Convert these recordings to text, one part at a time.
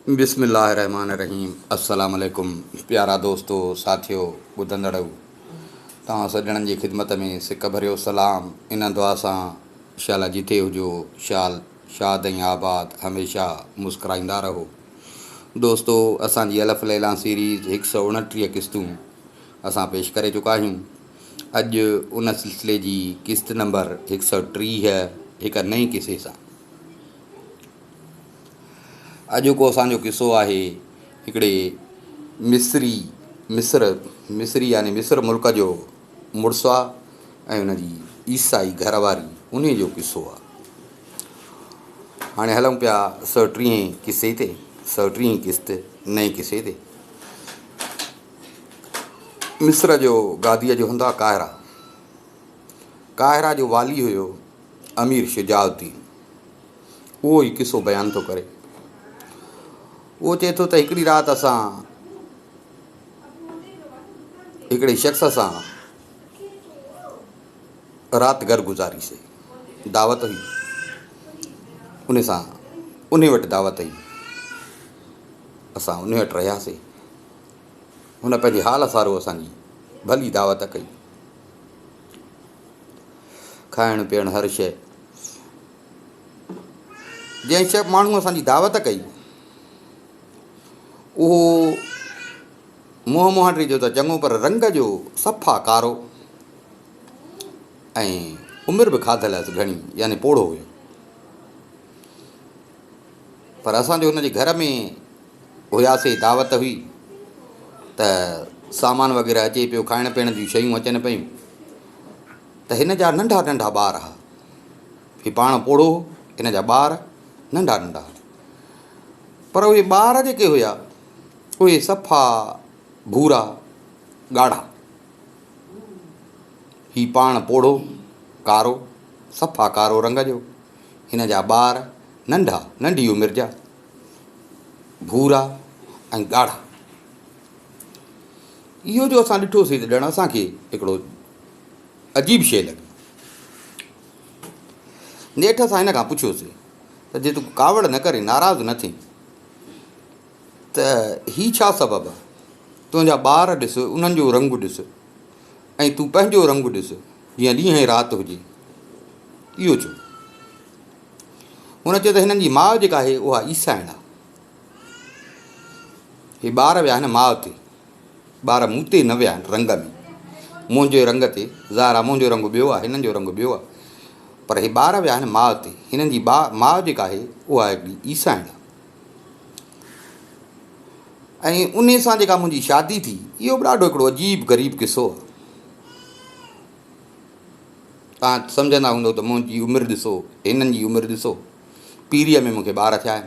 بسم الله الرحمٰن الرحيم السلام عليڪم پيارا دوستو ساٿيو ٻڌندڙئو توهان سڄڻن جي خدمت ۾ سڪ ڀريو سلام ان دعا سان شالا جتي هجو شال شاد ۽ آباد هميشه مسڪرائيندا رهو دوستو اسان جي الف ليلان سيريز هڪ سؤ اڻٽيهه قسطون اسان پيش ڪري چڪا آهيون اڄ ان سلسلي جي قسط نمبر هڪ سؤ ٽيهه هڪ نئين قصي سان اڄوڪو اسان جو قصو آهي هڪڙي مصري مصر مصري يعني مصر ملڪ جو مڙس آ ۽ ان جي عيسائي گهر واري ان جو قصو آ هاڻي هلون پيا سؤ ٽيهين قصي تي سؤ ٽيهين قسط نئين قصي تي مصر جو گاديء جو هنڌ آ قاهرا قاهرا جو والي هيو امير شجاع الدين اهو ئي قصو بيان ٿو ڪري. اهو چئي ٿو ته هڪڙي رات اسان هڪڙي شخص سان رات گهر گذاري سي دعوت هئي ان سان ان وٽ دعوت هئي اسان ان وٽ رهياسي هن پنهنجي حال سارو اسان جي ڀلي دعوت ڪئي کائڻ پيئڻ هر شيء جنهن شيف ماڻهوء اسان جي دعوت ڪئي، اهو منهن مهانڊري جو ته چڱو پر رنگ جو صفا ڪارو ۽ عمر به کاڌل هئس گهڻي يعني پوڙهو هيو. پر اسان جو هن جي گهر ۾ هياسي دعوت هئي ته سامان وغيره اچي پيو کائڻ پيئڻ جون شيون اچن پيون ته هن جا ننڍا ننڍا ٻار هئا هي پاڻ پوڙهو، هن جا ٻار ننڍا ننڍا. پر اهي ٻار جيڪي هيا، اهي صفا ڀورا، ڳاڙها. هي پاڻ پوڙهو، ڪارو، صفا ڪارو رنگ جو، هن جا ٻار ننڍا، ننڍي عمر جا، ڀورا ۽ ڳاڙها. اهو جو اسان ڏٺوسين ته ڄڻ اسان کي هڪڙو. عجيب شيء لڳي. نيٺ اسان هن کان پڇيوسين ته جي تون ڪاوڙ نه ڪرين، ناراض نه ٿين ته هي ڇا سبب آهي؟ تنهنجا ٻار ڏس، انهن جو رنگ ڏس ۽ تون پنهنجو رنگ ڏس، جيئن ڏينهن ۽ رات هجي. اهو ڇو؟ هن چيو ته هنن جي ماء جيڪا آهي، اها عيسائڻ آهي. هي ٻار ويا آهن ماء تي. ٻار مون تي نه ويا آهن رنگن منهنجي رنگ تي ظاهر آ منهنجو رنگ ٻيو آ هنن جو رنگ ٻيو آ پر هي ٻار ويا آهن ماء تي هنن جي با ماء جيڪا آهي اها هڪڙي عيسائڻ آ ۽ انهي سان جيڪا منهنجي شادي ٿي اهو به ڏاڍو هڪڙو عجيب غريب قصو آ تان سمجهندا هوندو ته منهنجي عمر ڏسو هنن جي عمر ڏسو پيريء ۾ مونکي ٻار ٿيا آهن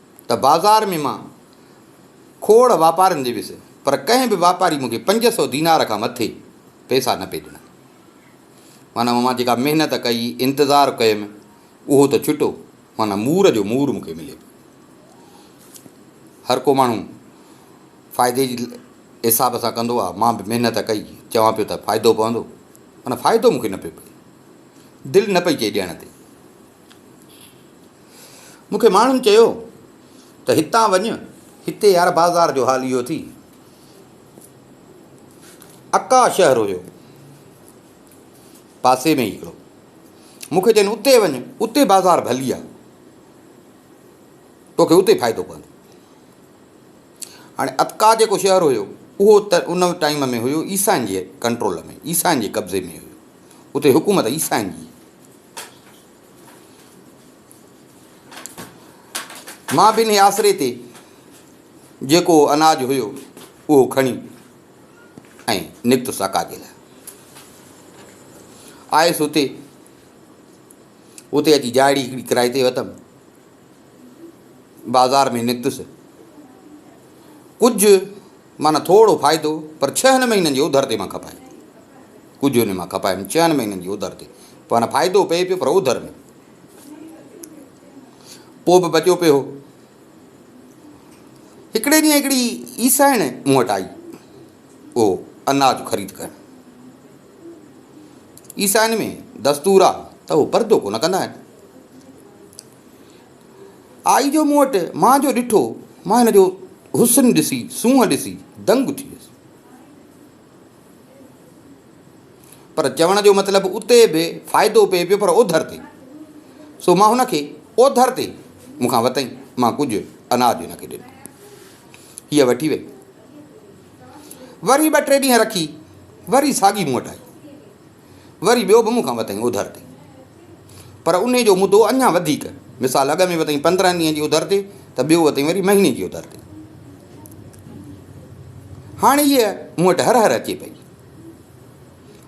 ته بازار ۾ مان کوڙ واپارندي ويس، پر ڪنهن به واپاري مون کي پنج سؤ دينار کان مٿي پئسا نه پئي ڏنا. معنيٰ مان جيڪا محنت ڪئي، انتظار ڪيم، اهو ته ڇٽو، معنيٰ مور جو مور مون کي ملي پيو. هر ڪو ماڻهو فائدي جي حساب سان ڪندو آهي، مان به محنت ڪئي، چوان پيو ته فائدو پوندو، معنيٰ فائدو مون کي نه پيو پئي. دل نه پئي چئي ڏيڻ تي. مون کي ماڻهن چيو ته هتان وڃ، هتي يار بازار جو حال اهو ٿي. اڪا شهر هيو، پاسي ۾ ئي هڪڙو. مون کي چين اتي وڃ، اتي بازار ڀلي آ، توکي اتي فائدو پوندو. هاڻي اڪا جيڪو شهر هيو، اهو ان ٽائيم ۾ هيو عيسائين جي ڪنٽرول ۾، عيسائين جي قبضي ۾ هيو. اتي حڪومت عيسائين جي هئي. مان ٻنهي آسري تي جيڪو اناج هيو اهو کڻي ۽ نڪتس اڪاجي لاء آيس اتي اتي اچي جاڙي هڪڙي ڪرائي تي وتم بازار ۾ نڪتس. ڪجهه معنيٰ ٿورڙو فائدو پر ڇهن مهينن جي اوڌر تي مان کپايم. ڪجهه ان مان کپايم ڇهن مهينن جي اوڌر تي. معنيٰ فائدو پئي پيو پر اوڌر ۾. پوء به بچيو پيو هو. هڪڙي ڏينهن هڪڙي عيسائڻ مون وٽ آئي اهو اناج خريد ڪرڻ. عيسائين ۾ دستور آ ته هو پردو ڪونه ڪندا آهن. آئي جو مون وٽ مان جو ڏٺو، مان هن جو حسن ڏسي، سونهن ڏسي دنگ ٿي ويس. پر چوڻ جو مطلب اتي به فائدو پئي پيو پر اوڌر تي. سو مان هن کي اوڌر تي مون کان وتئين، مان ڪجهه اناج هن کي ڏنو. هيء وٺي وئي. وري ٻه ٽي ڏينهن رکي وري ساڳي مون وٽ آئي. وري ٻيو به مون کان وتائين اوڌر تي. پر انهي جو مدو اڃا وڌيڪ، مثال اڳ ۾ وتائين پندرهن ڏينهن جي اوڌر تي ته ٻيو وتائين وري مهيني جي اوڌر تي. هاڻي هيء مون وٽ هر هر اچي پئي.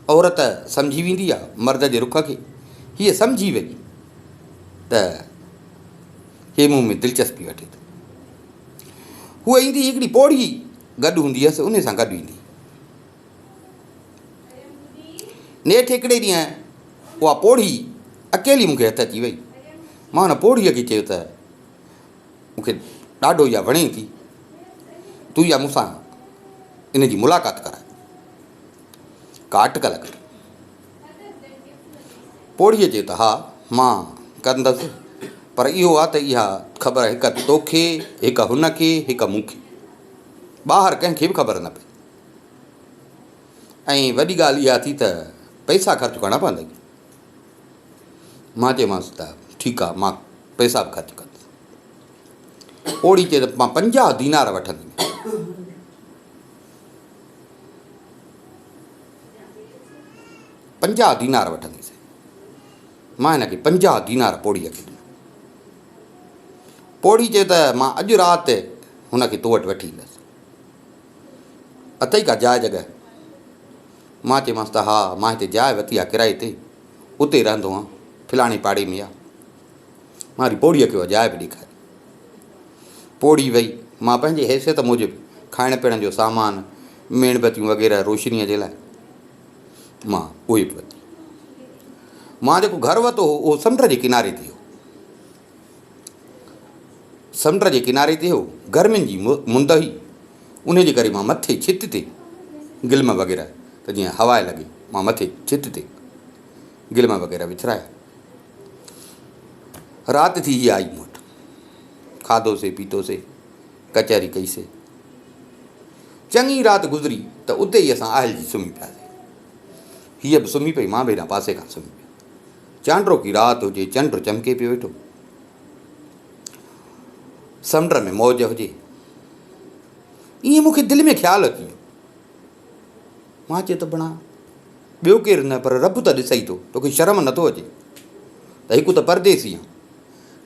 عورت سمجهي ويندي آ مرد جي رخ کي. هيء سمجهي وئي ته هيء مون ۾ دلچسپي وٺي ٿو. هوء ايندي ئي هڪڙي پوڙهي گڏ هوندي هيس، انهيء سان گڏ ويندي. نيٺ هڪڙي ڏينهن اها پوڙهي اڪيلي مون کي هٿ اچي وئي. مان هن پوڙهيء کي چيو ته، مون کي ڏاڍو اها وڻين ٿي، تون اها مون سان ان جي ملاقات ڪرائي. ڪا اٽڪل ڪر. پوڙهيء جي ته ها، مان ڪندس، پر اهو آ ته اها خبر هڪ توکي، هڪ هن کي، هڪ مون کي، ٻاهر ڪنهن کي به خبر نه پئي. ۽ وڏي ڳالهه اها ٿي ته پئسا خرچ ڪرڻا پوندئي. مان چيومانس ته ٺيڪ آ، مان پئسا به خرچ ڪندس. پوڙهي چيو ته مان پنجاهه دينار وٺنديمانء. پنجاهه دينار وٺنديسين. مان هن کي پنجاهه دينار پوڙهيء کي ڏنا. پوڙهي چيو ته مان اڄ رات هن کي تو وٽ وٺي ايندس. اٿئي ڪا جاء جڳهه؟ مان چيمانس ته ها، مان هتي جاء ورتي آهي ڪرائي تي، اتي رهندو آهيان، فلاڻي پاڙي ۾ آهي. مان وري پوڙهيء کي اها جاء به ڏيکاري. پوڙهي ويئي. مان پنهنجي حيثيت موجب کائڻ پيئڻ جو سامان، ميڻ بتيون وغيره روشنيء جي لاء، مان اهي به ورتيون. مان جيڪو گهر ورتو هو، اهو سمنڊ جي ڪناري تي هو. سمنڊ جي ڪناري تي هو، گرمين جي مند هئي، انهيء جي ڪري مان مٿي ڇت تي گلم وغيره ته جيئن هوا لڳي، مان مٿي ڇت تي گلم وغيره وڇرايا. رات ٿي هي آئي مون وٽ. کاڌوسي پيتوسي، ڪچهري ڪئيسي. چڱي رات گذري ته اتي ئي اسان آهلجي سمهي پياسي. هيء به سمهي پئي، مان به هيڏانهن پاسي کان سمهي پيس. چانڊروڪي رات هجي، چنڊ چمڪي پيو ويٺو. سمنڊ ۾ موج هجي. ائين مون کي دل ۾ خيال اچي ويو. مان چيو ته بڻا ٻيو ڪير نه پر رب ته ڏسئي ٿو، توکي شرم نٿو اچي ته هڪ ته پرديسي آن،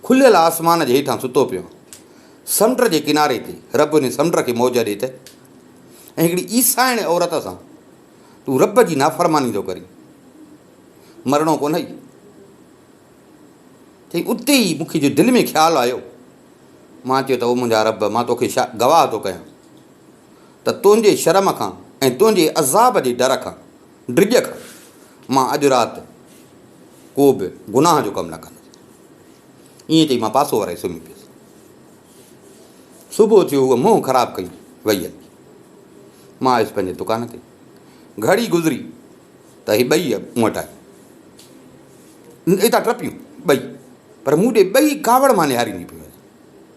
کليل آسمان جي هيٺان ستو پيو آن، سمنڊ جي ڪناري تي رب هن سمنڊ کي موج ڏي ته ۽ هڪڙي عيسائڻي عورت سان تون رب جي نافرماني ٿو ڪرين، مرڻو ڪونهئي؟ چئي اتي ئي مونکي جو دل ۾ خيال آيو، مان چيو ته او منهنجا رب مان توکي گواهه ٿو ڪيان. ته تنهنجي شرم کان ۽ تنهنجي عذاب جي ڊر کان، ڊڄ کان، مان اڄ رات ڪو به گناهه جو ڪم نه ڪندس. ائين چئي مان پاسو ورائي سمهي پيس. صبح ٿيو هوء منهن خراب ڪئي ويئي هلي. مان آيس پنهنجي دڪان تي. گهڙي گذري ته هي ٻئي مون وٽ آيون. اتان ٽپيون ٻئي پر مون ڏي ٻئي ڪاوڙ مان نهارينديون پيون وڃن.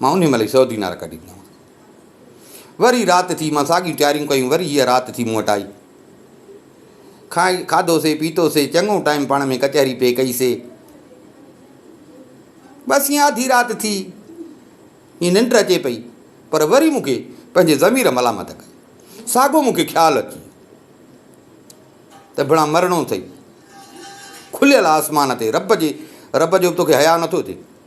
مان انهيء مهل ئي سؤ دينار ڪڍي ڏنا. وري رات ٿي، مان ساڳيون تياريون ڪيون، وري هيء رات ٿي مون وٽ آئي. کائي، کاڌوسي، پيتوسي، چڱو ٽائيم پاڻ ۾ ڪچهري پئي ڪئيسي. بس ائين آڌي رات ٿي، ائين ننڊ اچي پئي، پر وري مون کي پنهنجي ضمير ملامت ڪئي. ساڳو مون کي خيال اچي ويو ته ڀڻا مرڻو اٿئي. کليل آسمان تي رب جي رب جو به توکي حياء نٿو اچي.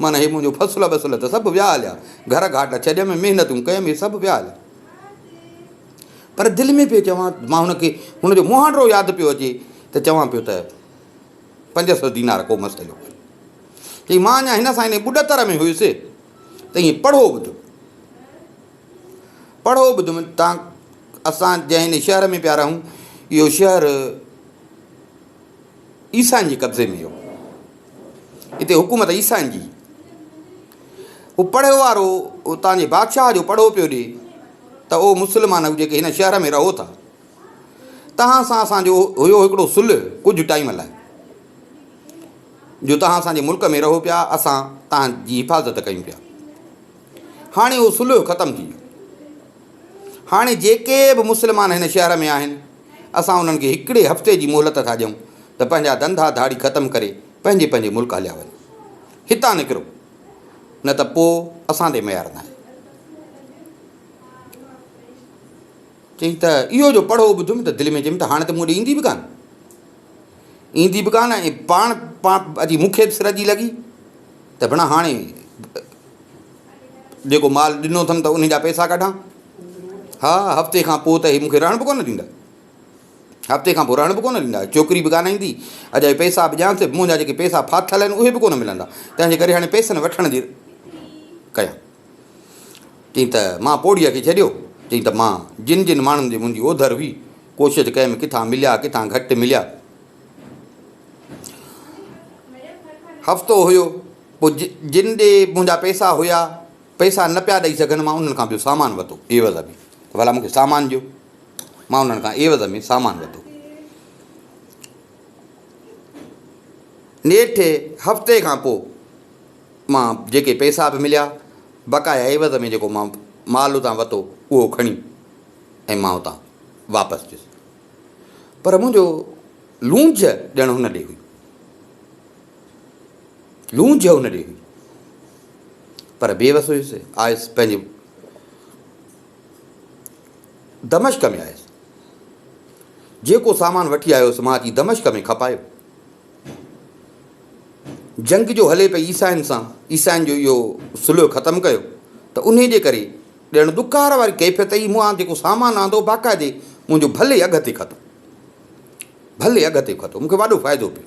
من هي منهنجو فصل ٻصل ته سڀ ويا هليا گهر گهاٽ ڇڏيم محنتون ڪيم هي سڀ ويا هليا پر دل ۾ پيو چوان مان هن کي هن جو مهانڊو ياد پيو اچي ته چوان پيو ته پنج سو دينار ڪو مسئلو ڪونهي چي مان اڃا هن سان ان ٻڏتر ۾ هيس ته ائين پڙهو ٻڌ پڙهو ٻڌ تان اسان جنهن شهر ۾ پيا رهون اهو شهر عيسائن جي قبضي ۾ هو. هتي حڪومت عيسائن جي هئي. هو پڙهيو وارو اتان جي بادشاهه جو پڙهو پيو ڏي ته او مسلمانؤ جيڪي هن شهر ۾ رهو ٿا، توهان سان اسان جو هيو هڪڙو صلح ڪجهه ٽائيم لاء، جو توهان اسان جي ملڪ ۾ رهو پيا، اسان توهان جي حفاظت ڪيون پيا. هاڻي اهو صلح ختم ٿي ويو. هاڻي جيڪي به مسلمان هن شهر ۾ آهن، اسان انهن کي هڪڙي هفتي جي مهلت ٿا ڏيون ته پنهنجا ڌنڌا ڌاڙي ختم ڪري پنهنجي پنهنجي ملڪ هليا وڃو. هتان نڪرو، نه ته پوء اسان تي ميار ناهي. چيائين ته اهو جو پڙهو ٻڌيم ته دل ۾ چيم ته هاڻي ته مون ڏي ايندي به ڪانه. ايندي به ڪانه ۽ پاڻ پاڻ اچي مون کي به سر جي لڳي ته ڀڻا هاڻي جيڪو مال ڏنو اٿم ته انهي جا پئسا ڪڍان؟ ها، هفتي کان پوء ته هي مون کي رهڻ به ڪونه ڏيندا. هفتي کان پوء رهڻ به ڪونه ڏيندا. چوڪري به ڪانه ايندي. اجا هي پئسا به ڏيانس ته به منهنجا جيڪي پئسا ڦاٿل آهن اهي به ڪونه ملندا. تنهن جي ڪري هاڻي پئسن وٺڻ جي ڪيان. چيائين ته مان پوڙهيء کي ڇڏيو. چيائين ته مان جن جن ماڻهن جي منهنجي اوڌر هئي، ڪوشش ڪيم ڪٿان مليا ڪٿان گهٽ مليا. هفتو هيو. پوء جن ڏي منهنجا پئسا هيا، پئسا نه پيا ڏئي سگهن، مان انهن کان ٻيو سامان وتو، عيوض ۾، ته ڀلا مون کي سامان ڏيو. مان انهن کان عيوض ۾ سامان وتو. نيٺ هفتي کان پوء مان جيڪي پئسا به مليا، بقايا عيوض ۾ جيڪو مان مال اتان وتو، اهو کڻي ۽ مان اتان واپس ٿيس. پر منهنجو لونجهه ڄڻ هن ڏي هئي. لونج هن ڏي هئي، پر بي وس هيس. آيس پنهنجي دمشق ۾ آيس. جيڪو سامان وٺي آيو هيس، مان اچي دمشق ۾ کپايو. جنگ جو هلي پئي عيسائين سان، عيسائين جو اهو صلح ختم ڪيو ته انهي جي ڪري ڄڻ ڏڪار واري ڪيفيت هئي، مون جيڪو سامان آندو باقاعدي منهنجو ڀلي اگهه تي کتو، ڀلي اگهه تي کتو، مون کي وڏو فائدو پيو.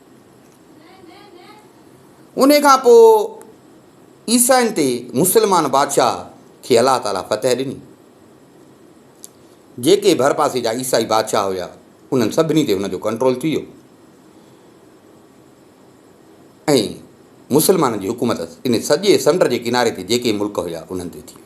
انهي کان پوء عيسائين تي مسلمان بادشاهه کي الله تعاليٰ فتح ڏني. جيڪي ڀرپاسي جا عيسائي بادشاهه هيا انهن سڀني تي هن جو ڪنٽرول ٿي ويو ۽ مسلمانن جي حڪومت انهي سڄي سمنڊ جي ڪناري تي جيڪي ملڪ هيا انهن تي ٿي وئي.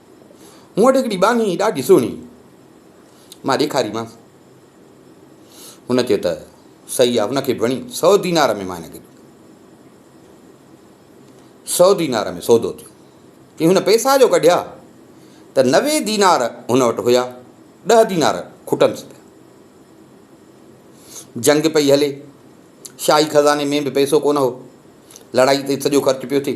مون وٽ هڪڙي ٻانهي هئي ڏاڍي سهڻي، مان ڏيکاريمانس. هن چيو ته صحيح آهي، هن کي به وڻي، سؤ دينار ۾ مان هن کي سؤ دينار ۾ سودو ٿيو. چي هن پئسا جو ڪڍيا ته نوي دينار هن وٽ هيا، ڏهه دينار کٽنس پيا. جنگ پئي هلي، شاهي خزاني ۾ به پئسو ڪونه هو، لڙائي تي سڄو خرچ پيو ٿئي.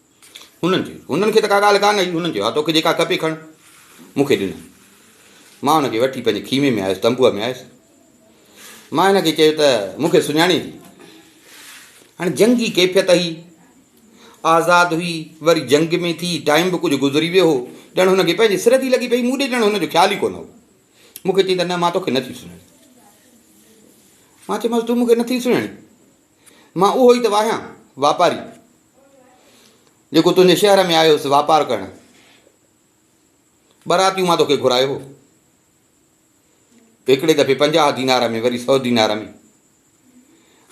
هنن چيس، هنن کي ته ڪا ڳالهه ڪانه هئي، هنن چيو، ها توکي جيڪا کپي کڻ. مون کي ڏنائين. مان هن کي وٺي پنهنجي خيمي ۾ آيس، تنبوء ۾ آيس. مان هن کي چيو ته مون کي سڃاڻين ٿي. هاڻي جنگي ڪيفيت هئي، آزاد هئي، وري جنگ ۾ ٿي، ٽائيم به ڪجهه گذري ويو هو، ڄڻ هن کي پنهنجي سر ٿي لڳي پئي، مون ڏي ڄڻ هن جو خيال ئي ڪونه هو. مون کي چيائين ته نه مان توکي نه ٿي سڃاڻين. مان چيومانس، تون مون کي نه ٿي سڃاڻين؟ مان اهو ئي ته آهيان واپاري، جيڪو تنهنجي شهر ۾ آيو هوس واپار ڪرڻ. ٻراتيون مان توکي گهرايو هو. هڪڙي دفعي پنجاهه دينار ۾ وري سؤ دينار ۾.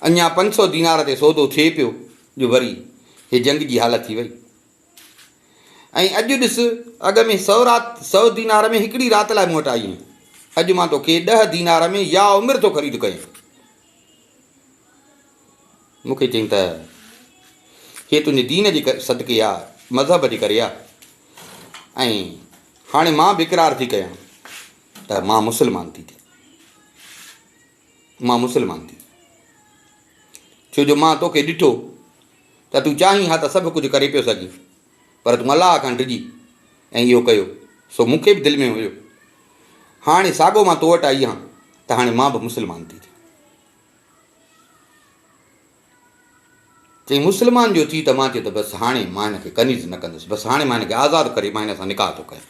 اڃا پنج سؤ دينار تي سودو ٿئي پيو جو وري هي جنگ جي حالت ٿي وئي. ۽ اڄ ڏس اڳ ۾ سؤ رات سؤ دينار ۾ هڪڙي رات لاء مون وٽ آئي آهين. اڄ مان توکي ڏهه دينار ۾ يا عمر ٿو خريد ڪيان. مون کي چيائين ته هيء تنهنجي دين جي صدقي يا مذهب جي ڪري آهي ۽ هاڻي مان به اقرار ٿي ڪيان ته مان مسلمان ٿي ٿيان مان مسلمان ٿي ٿيان ڇو جو مان توکي ڏٺو ته تون چاهين ها ته سڀ ڪجهه ڪري پيو سگهين پر تون الله کان ڊڄي ۽ اهو ڪيو، سو مون کي به دل ۾ هيو، هاڻي ساڳو مان تو وٽ آئي آهيان ته هاڻي مان به مسلمان ٿي ٿيان. چيائين مسلمان جو ٿي ته مان چيو ته بس هاڻي مان هن کي ڪنيز نه ڪندس، بس هاڻي مان هن کي آزاد ڪري مان هن سان نڪاح ٿو ڪيان،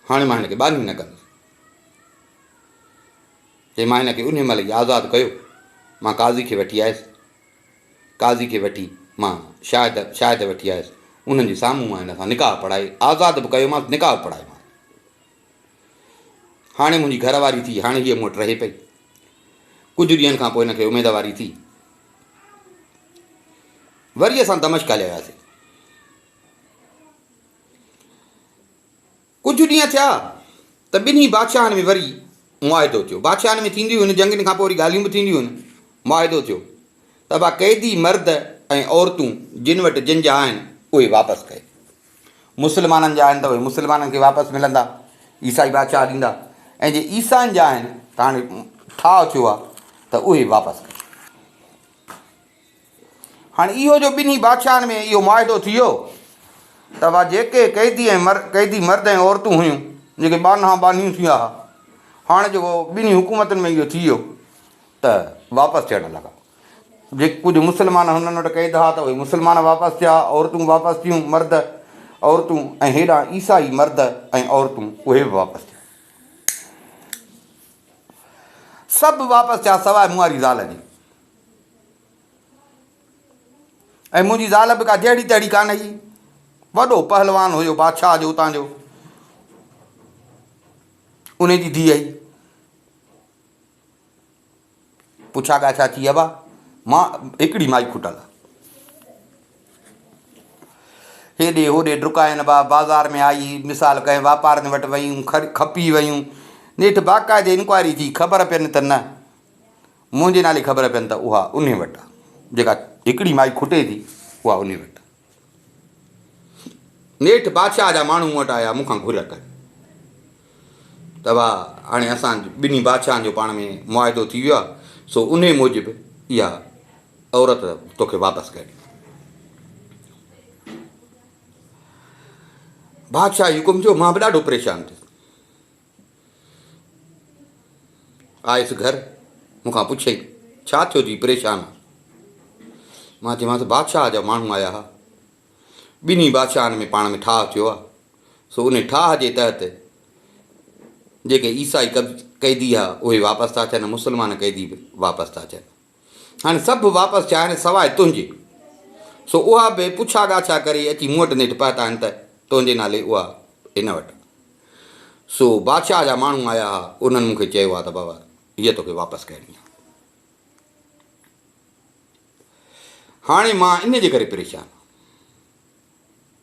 هاڻي مان هن کي ٻانهي نه ڪندس. چيائين مان هن کي انهي مهل ئي آزاد ڪيو، مان قاضي کي وٺي آيس، قاضي کي وٺي مان شاهد شاهد وٺي آيس انهن جي سامهون مان هن سان نڪاح پڙهائي آزاد به ڪيومانس نڪاح به پڙهايومانس هاڻي منهنجي گهر واري ٿي هاڻي هيء مون وٽ رهي پئي ڪجهه ڏينهن کان پوء هن کي اميدواري ٿي وري اسان دمشق هليا وياسي ڪجهه ڏينهن ٿيا ته ٻنهي بادشاهن ۾ وري معاهدو ٿيو. بادشاهن ۾ ٿينديون هيون جنگين کان پوء وري ڳالهيون به ٿينديون هيون. معاهدو ٿيو ته اهي قيدي مرد ۽ عورتون جن وٽ جن جا آهن اهي واپس ڪئي. مسلمانن جا آهن ته اهي مسلمانن کي واپس ملندا، عيسائي بادشاهه ڏيندا ۽ جي عيسائين جا آهن ته هاڻي ٺاهه ٿيو آهي ته اهي واپس ڪئي. هاڻي اهو جو ٻنهي بادشاهن ۾ اهو معاهدو ٿي ويو ته اها جيڪي قيدي ۽ قيدي مرد ۽ عورتون هيون جيڪي ٻانها ٻانهيون ٿيا ها هاڻي جو اهو ٻنهي حڪومتن ۾ اهو ٿي ويو ته واپس ٿيڻ لڳا جي ڪجهه مسلمان هنن وٽ قيد ها ته اهي مسلمان واپس ٿيا عورتون واپس ٿيون مرد عورتون ۽ هيڏانهن عيسائي مرد ۽ عورتون اهي به واپس ٿيا سڀ واپس ٿيا سواء مئاري زال جي ۽ منهنجي زال به ڪا جهڙي تهڙي ڪانه هئي. وڏو پهلوان هيو بادشاهه جو اتان جو. انهي جي ڌيء هئي. پڇا ڳاڇا ٿي هئا. مان هڪڙي مائي کٽل. هيڏي هوڏي ڊڪائن با بازار ۾ آئي مثال ڪنهن واپارين وٽ ويون کپي ويون نيٺ باقاعدي انڪوائري ٿي خبر پين ته نه منهنجي نالي خبر پين ته اها انهي وٽ آ جيڪا هڪڙي مائي کٽي ٿي اها انهي وٽ آ. نيٺ بادشاهه جا ماڻهو مون وٽ آيا مون کان گهر ڪئي ته وا هاڻي اسان ٻنهي بادشاهن جو پاڻ ۾ معاهدو ٿي ويو آ سو انهي موجب اها عورت توکي واپس ڪري ڏيندو. بادشاهه حڪم ٿيو مان به ڏاڍو پريشان ٿيس. آيس گهر، مون کان پڇيائين، ڇا ٿيو ٿي پريشان آن؟ مان چيومانس، بادشاهه جا ماڻهو آيا ها. ٻنهي بادشاهن ۾ پاڻ ۾ ٺاهه ٿيو آهي. سو ان ٺاهه جي تحت جيڪي عيسائي قيدي ها، اهي واپس ٿا اچن ۽ مسلمان قيدي به واپس ٿا اچن. هاڻي سڀ واپس چاهين سواء تنهنجي. سو اها به پڇا ڳاڇا ڪري اچي مون وٽ نيٺ پهتا آهن ته تنهنجي نالي اها هن وٽ. سو بادشاهه جا ماڻهو آيا ها، انهن مون کي چيو آهي ته بابا هيء توکي واپس ڪرڻي آهي. هاڻي مان ان جي ڪري پريشان آهيان.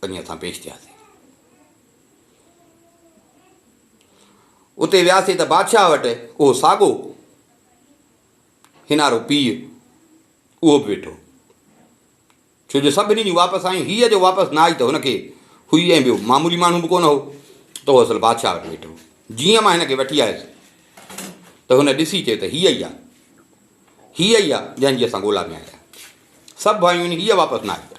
پنهنجي هٿان پيش ٿياسين. اتي وياسين ته بادشاهه وٽ اهو ساڳو هنارو پيء اهو به ويٺو ڇو جو سڀني جون واپس آيون هيء جو واپس نه آئي ته هن کي هئي ۽ ٻيو معمولي ماڻهو به ڪونه هو ته اهو اصل بادشاهه وٽ ويٺو هو. جيئن مان هن کي وٺي آيس ته هن ڏسي چيو ته هيء ئي آ هيء ئي آ جنهن جي اسان ڳولا ۾ آيا سڀ آيون هيء واپس نه آئي آ.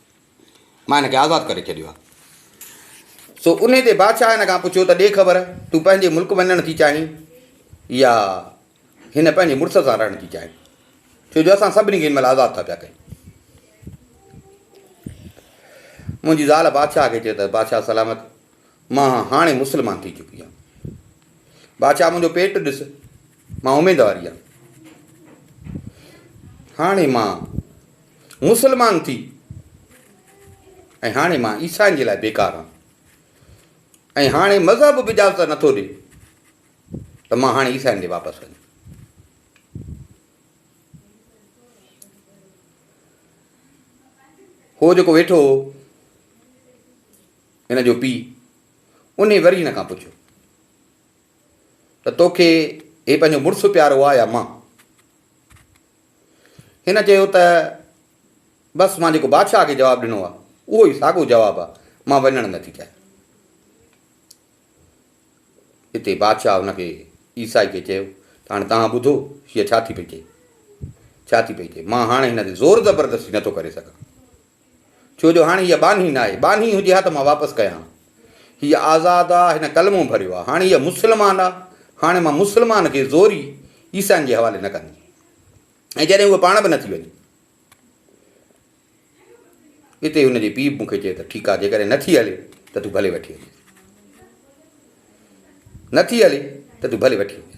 مان هن کي آزاد ڪري ڇڏيو آهي. سو انهيء تي بادشاهه هن کان پڇيو ته ڏي خبر، تون پنهنجي ملڪ وڃڻ ٿي چاهين يا هن پنهنجي مڙس سان رهڻ ٿي چاهين؟ ڇو جو اسان سڀني کي هن مهل آزاد ٿا پيا ڪيون. منهنجي زال بادشاهه کي چيو ته بادشاهه سلامت، مان هاڻي مسلمان ٿي چڪي آهيان. بادشاهه منهنجو پيٽ ڏس. مان اميدوار ئي آهيان. هاڻي مان مسلمان ٿي ۽ هاڻي مان عيسائين جي لاء بيڪار آهيان ۽ هاڻي مذهب به اجازت نٿو ڏي ته مان هاڻي عيسائين ڏي واپس وڃان. هو جيڪو ويٺو هو هن جو پيء انهي وري هن کان پڇيو ته توکي هي پنهنجو مڙس پيارو آ يا مان؟ هن چيو ته بس مان جيڪو بادشاهه کي جواب ڏنو آ اهو ئي ساڳو جواب آ مان وڃڻ نه ٿي چاهيان. اتي بادشاهه هن کي عيسائي کي چيو ته هاڻي توهان ٻڌو هيء ڇا ٿي پئي چئي؟ ڇا ٿي پئي چئي؟ مان هاڻي هن تي زور زبردستي نه ٿو ڪري سگهان. ڇو جو هاڻي هيء ٻانهي ناهي، ٻانهي هجي ها ته مان واپس ڪيان ها. هيء آزاد آ، هن ڪلمو ڀريو آ، هاڻي هيء مسلمان آ، هاڻي مان مسلمان کي زوري عيسائين جي حوالي نه ڪندي. ۽ جڏهن هوء پاڻ به نه ٿي وڃي. اتي هن جي پيء به مون کي چيو ته ٺيڪ آ، جيڪڏهن نه ٿي هلي ته تون ڀلي وٺي وڃيس. نه ٿي هلي ته تون ڀلي وٺي وڃيس.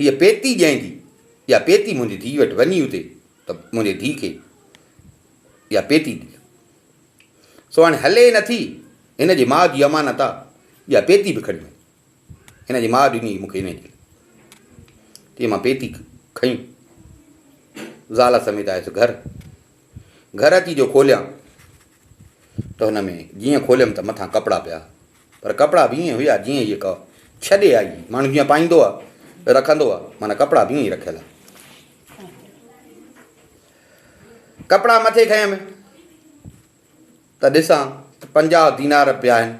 هيء پيتي جنهن جي، اها پيتي منهنجي ڌيء وٽ وڃي اتي ته منهنجي ڌيء کي اها پيتي ڏي. سو هاڻي هلي نه ٿي، هن جي ماء جي امانت آ، اها پيتي به کڻي وڃ. هن جي ماء ڏني هئي مون کي انهيء جي لاء. تيئن مان پيتي کنئي زال سميت آيس گهر. گهر اچي جو کوليان ته هن ۾ جيئن کوليم ته مٿان ڪپڙا پيا پر ڪپڙا به ائين هيا جيئن هيء ڪا ڇڏي آئي هئي. ماڻهو جيئن پائيندو آ رکندو آ معنيٰ ڪپڙا به ائين ئي رکيل آ. ڪپڙا مٿي کنيم ته ڏسان ته پنجاهه دينار به پيا آهن،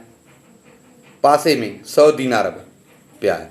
پاسي ۾ سؤ دينار به پيا آهن.